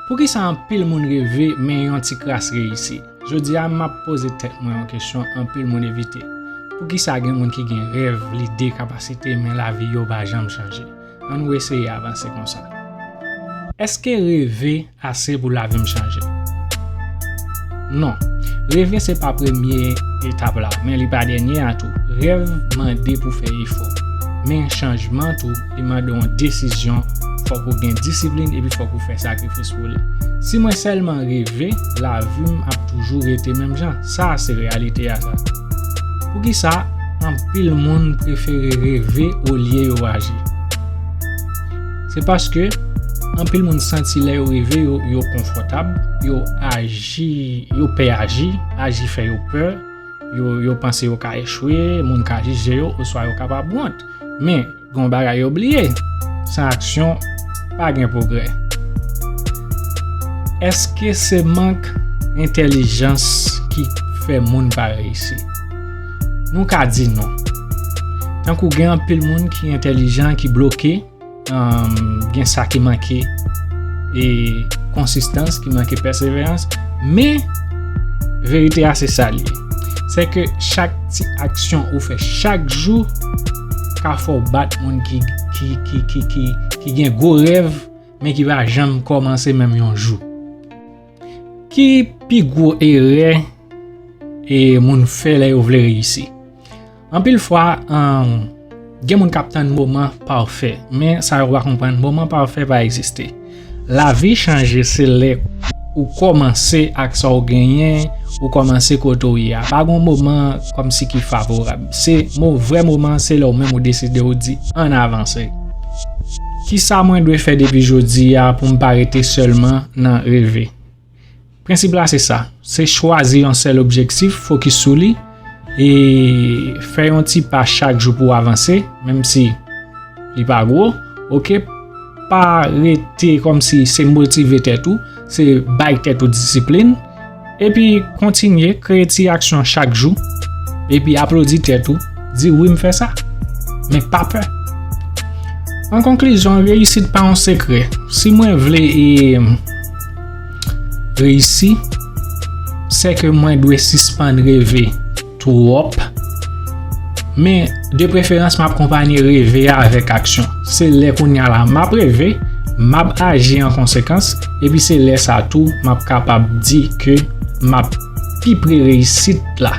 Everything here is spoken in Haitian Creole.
Poukisa anpil moun reve men yon ti kras reyisi? Jodi a, m ap poze tèt mwen yon kesyon anpil moun evite, Poukisa gen moun ki gen rèv, lide, kapasite men lavi yo pa janm chanje? Annou eseye avanse konsa. Èske reve ase pou lavi m chanje? Non. Reve se pa premye etap la, men li pa dènye a tou. Rèv mande pou fè efò, men chanjman tou. li mande yon desizyon, fòk ou gen disiplin epi fòk ou fè sakrifis pou li. Si mwen sèlman reve, lavi m ap toujou rete menm jan. Sa a se reyalite a sa. Poukisa anpil moun prefere reve olye yo aji? Se paske anpil moun santi lè yo reve yo, yo konfòtab, yo aji, yo pè aji, aji fè yo pè, yo panse yo ka echwe, moun ka jije yo oswa yo kapab wont. Men, gen yon bagay yo bliye, san aksyon, pa gen pwogrè. Èske se mank entèlijans ki fè moun pa reyisi? Nou ka di non. Tankou gen anpil moun ki entèlijan ki bloke, Gen sa ki manke e konsistans, ki manke pèseverans, men verite a se sa li. Se ke chak ti aksyon ou fè chak jou ka fò bat moun ki gen gwo rèv men ki va janm kòmanse menm yon jou. Ki pi gwo erè e moun fè lè yo vle reyisi? Anpil fwa, gen moun k ap tann moman pafè, men sa yo pa konprann, moman pafè pa egziste. Lavi chanje se lè ou kòmanse ak sa ou genyen, ou kòmanse kote ou ye a. Pa gen yon moman kòmsi ki favorab. Se vrè moman an, se lè ou menm ou deside ou di ann avanse. Kisa mwen dwe fè depi jodi a pou m pa rete sèlman nan reve? Prensip la se sa, se chwazi yon sèl objektif, fokis sou li, e fè yon ti pa chak jou pou w avanse, menm si li pa gwo, ok, pa rete kòm si se motive tèt ou, se bay tèt ou disiplin, epi kontinye kreye ti aksyon chak jou, epi aplodi tèt ou, di wi m fè sa, men pa pè. An konklizyon, reyisit pa yon sekrè, si mwen vle e. reyisi, se ke mwen dwe sispann reve twòp, men de preferans map konpanye reve a avèk aksyon. Se lè kounya la map reve, map aji an konsekans, epi se lè sa tou map kapab di ke map pi pre reyisit la.